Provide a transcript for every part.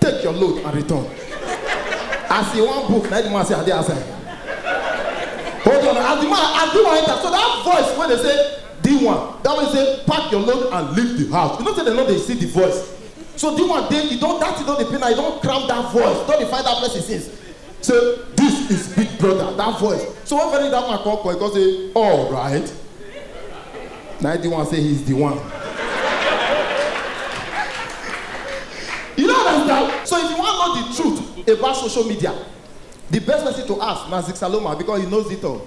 take your load and return as he wan book na the man say i dey outside hold on as the man as the one enter so that voice wey dey say the one that one say pack your load and leave the house you know say dem no dey see the voice so the one dey e don that thing don dey pain am e don cram that voice don dey find that person since Say this is big brother that voice so when Femi that woman come call he come say alright na him D1 say he's the one you no understand so if you wan know the truth about social media the best person to ask na Zigsaloma because he knows it all.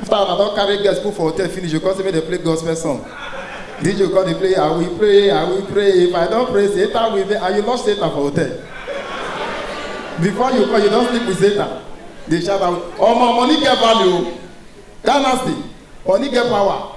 After I don carry girls put for hotel finish, you come say make dem play gospel song. DJ come dey play, I will pray, I will pray. If I don pray, Satan will be, and you lost Satan for hotel. Before you come, you don sleep with Satan. Dey shout out, omo, money get value o. Ghana state, money get power.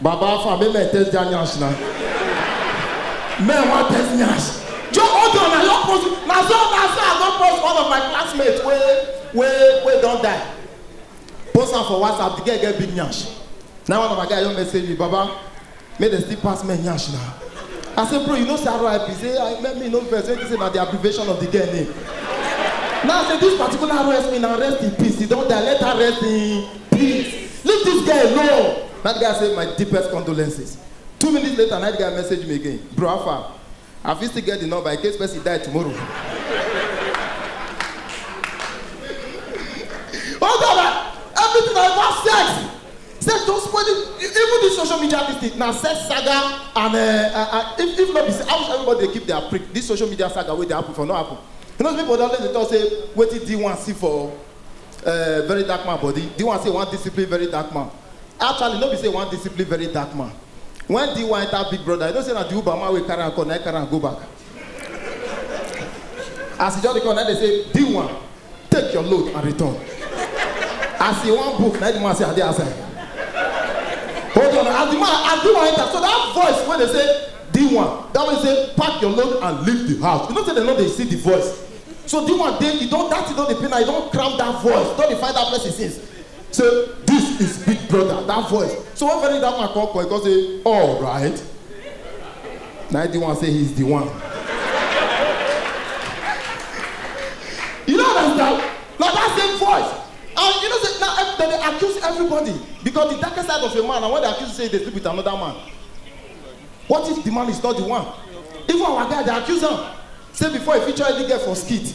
Baba Alpha, make me test their nyash now. Men want test nyash. Joe Ojo, na your post, na so na so I don post one of my classmates wey wey wey don die. Post am for WhatsApp, the girl get big nyash. Now one of my guy don message me, Baba, make dem still pass men yansh na i say bro you know say rip say i make me no vex make you say na the abbreviation of the girl name now i say this particular rest me na rest in peace he don die let her rest in peace leave this girl alone na the guy say my deepest condolences two minutes later na the guy message me again bro how far I fit still get the number in case person die tomorrow. oh God, I, everything I want sex. Sex don spoil it. E- Even this social media this thing na sex saga and uh, uh, uh, if if no be say how much everybody dey keep their prick this social media saga wey dey happen for no happen. You know people dey always dey talk say wetin D1 see for uh, very dark man body D1 say he wan discipline very dark man Actually, no be say he wan discipline very dark man. When D1 enter Big Brother, you know say na the Uber man wey carry am come, na him carry am go back. As he just dey come, na him dey say, D1, take your load and return. As he wan book, na him the man say, I dey outside. Hold on, as the man, as D1 enter, so that voice wey dey say, D1, that one say, pack your load and leave the house. You know say dem no dey see the voice. So D1 dey, e don, that thing don dey pain am, e don cram that voice, don dey find that person since. Say this is big brother that voice so when Femi that woman come call he come say alright na him D1 say he's the one you no understand na that same voice and you know say na ev- dem dey accuse everybody because the darkest side of a man na when they accuse you say you dey sleep with another man what if the man is not the one even our guy dey accuse am say before he feature any girl for skit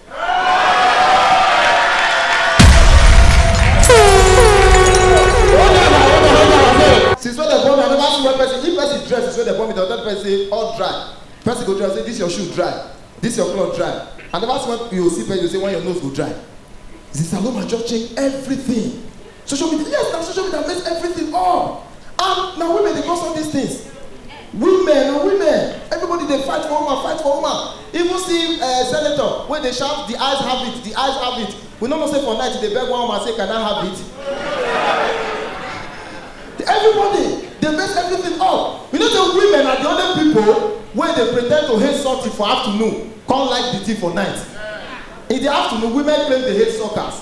since when dem born me i never see one person if person dress since when dem born me dem tell the person say all dry person go dress say this your shoe dry this your cloth dry i never see one you go see person you go say when your nose go dry zisaloma just change everything Social media, yes, na social media mess everything up. And na women dey cause all these things. Women, na women, everybody dey fight for woman, fight for woman. Even see uh, senator wey dey shout, the eyes have it, the eyes have it. We no know say for night he dey beg one woman say, can I have it? Everybody dey mess everything up. You know say women are the only people wey dey pretend to hate something for afternoon, come like the thing for night. In the afternoon, women claim they hate suckers.